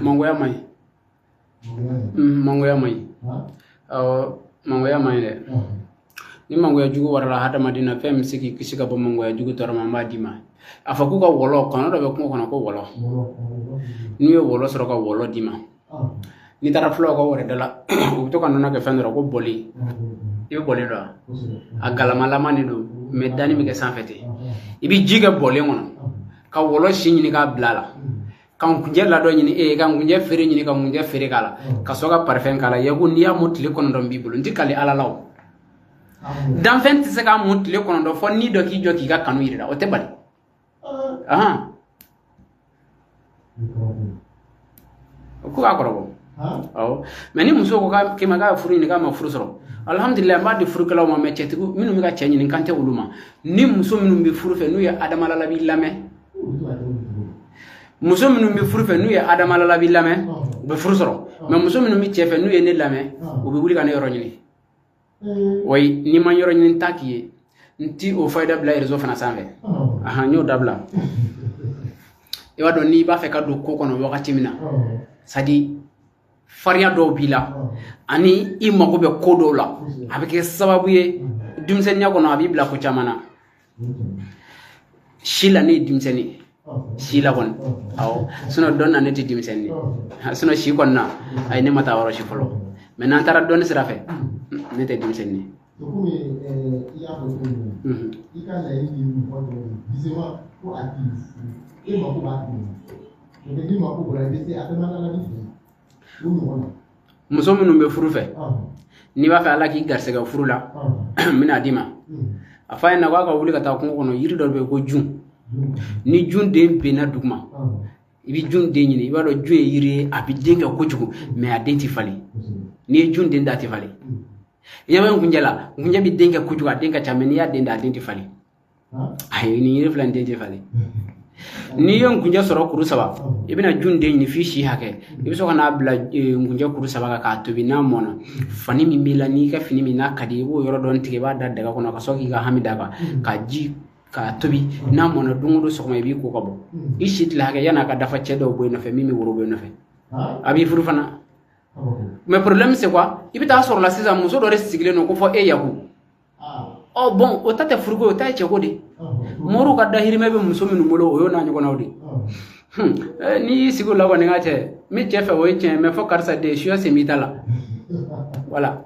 mangoya man ɲi mm, mangoya man ɲi awɔ mangoya man ɲi dɛ ni mangoya jugu warala hadamaden na fɛn bɛ se k'i kisi ka bɔ mangoya jugu tɔɔrɔ ma n b'a d'i ma a fɔ k'u ka wɔlɔ kɔnɔ dɔ bɛ kungo kɔnɔ ko wɔlɔ n'u ye wɔlɔ sɔrɔ ka wɔlɔ d'i ma n'i taara fulaw ka wɛrɛ da la u bɛ to ka nɔnɔ kɛ fɛn dɔ rɔ ko bɔli i bɛ bɔli dɔn a galamalama de don mɛ danni bɛ kɛ sanfɛ ten i bɛ ji kɛ bɔlen kɔnɔ ka wɔlɔ si ɲini k'a bila a la ka nkunjɛ ladɔn ɲini e ka nkunjɛ feere ɲini ka nkunjɛ feere k'a la ka sɔrɔ ka parifɛn k'a la yaku n'i y'a mun tile kɔnɔntɔn b'i bolo n ti kali ala la o danfɛn tɛ se k'a mun tile kɔnɔntɔn fɔ ni dɔ k'i jɔ k'i ka kanu yirira o tɛ bali o ko k'a kɔrɔbɔ awɔ mɛ ni muso ko k'a kema k'a furu ɲini k'a ma furu sɔrɔ alhamdulilayi n b'a di furukɛlaw ma mɛ cɛtigi minnu bɛ ka cɛ ɲini kan tɛ olu ma ni muso minnu bɛ furu fɛ n'u ye adama lalabi lamɛn muso minnu bɛ furu fɛ n'u ye adama lalabi lamɛn u bɛ furu sɔrɔ mɛ muso minnu bɛ cɛ fɛ n'u ye ne lamɛn u bɛ wuli ka ne yɔrɔ ɲini wa n'i ma n yɔrɔ ɲini n t'a k'i ye n ti o fayida bila rezo fana sanfɛ ahan n y'o dabila i b'a dɔn n'i b'a fɛ ka don ko kɔnɔ wagati min na sadi fariya dɔw b'i la ani i mago bɛ ko dɔw la a bɛ kɛ sababu ye denmisɛnninya kɔnɔ a b'i bila ko caman na si la ne ye denmisɛnnin ye si la kɔni awɔ sinɔn dɔn na ne tɛ denmisɛnnin ye sinɔn si kɔni na ayi ne ma taa yɔrɔ si fɔlɔ mɛ n'an taara dɔn sira fɛ ne tɛ denmisɛnnin ye to komi eh, i y'a fɔ cogo min na i ka laɲini ye mɔgɔ dɔ ye bisema ko a k'i furu e mako b'a tigi ma mɛ n'i mako bɔra i bɛ se a bɛɛ ma ala ni fɛ o ɲɔgɔn na muso minnu bɛ furu fɛ n'i b'a fɛ ala k'i garisɛgɛ furu la n bɛn'a d'i ma a f'a ɲɛna k'a ka wuli ka taa kungo kɔnɔ yiri dɔ bɛ yen ko jun ni jun den benna duguma i bɛ jun den ɲini i b'a dɔn jun ye yiri ye a bɛ den kɛ kojugu mɛ a den tɛ falen n'i ye jun den da a tɛ falen y'a bɔ nkunjɛ la nkunjɛ bɛ den kɛ kojugu a den ka ca mɛ n'i y'a den da a den tɛ falen ayi nin yiri fila nin den tɛ falen n'i ye nkunjɛ sɔrɔ kuru saba i bɛna jun den ɲini f'i si hakɛ i bɛ sɔrɔ ka n'a bila nkunjɛ kuru saba kan k'a tobi n'a mɔna fani min b'i la n'i ka fini min n'a ka di i b'o yɔrɔ dɔ tigɛ i b'a da daga kɔnɔ ka sɔrɔ k'i ka hami d'a kan ka ji k'a tobi n'a mɔna don o don sɔgɔma i b'i ko ka bɔ i si tila hakɛ yan'a ka dafa cɛ dɔ bɛ bɔ i nɔfɛ min bɛ woro bɔ i nɔfɛ a b'i furu fana mɛ problème c'est quoi i bɛ taa sɔrɔ la sisan muso dɔ de sigilen don ko fɔ e yaku ɔ bɔn o ta tɛ furuko o ta ye cɛko de moriw ka dahirimɛ bɛ muso minnu bolo o y'o n'a ɲɔgɔnnaw de n'i y'i sigi o la kɔni ka cɛ min cɛ fɛ o ye tiɲɛ mɛ fɔ karisa de suya sen b'i ta la voilà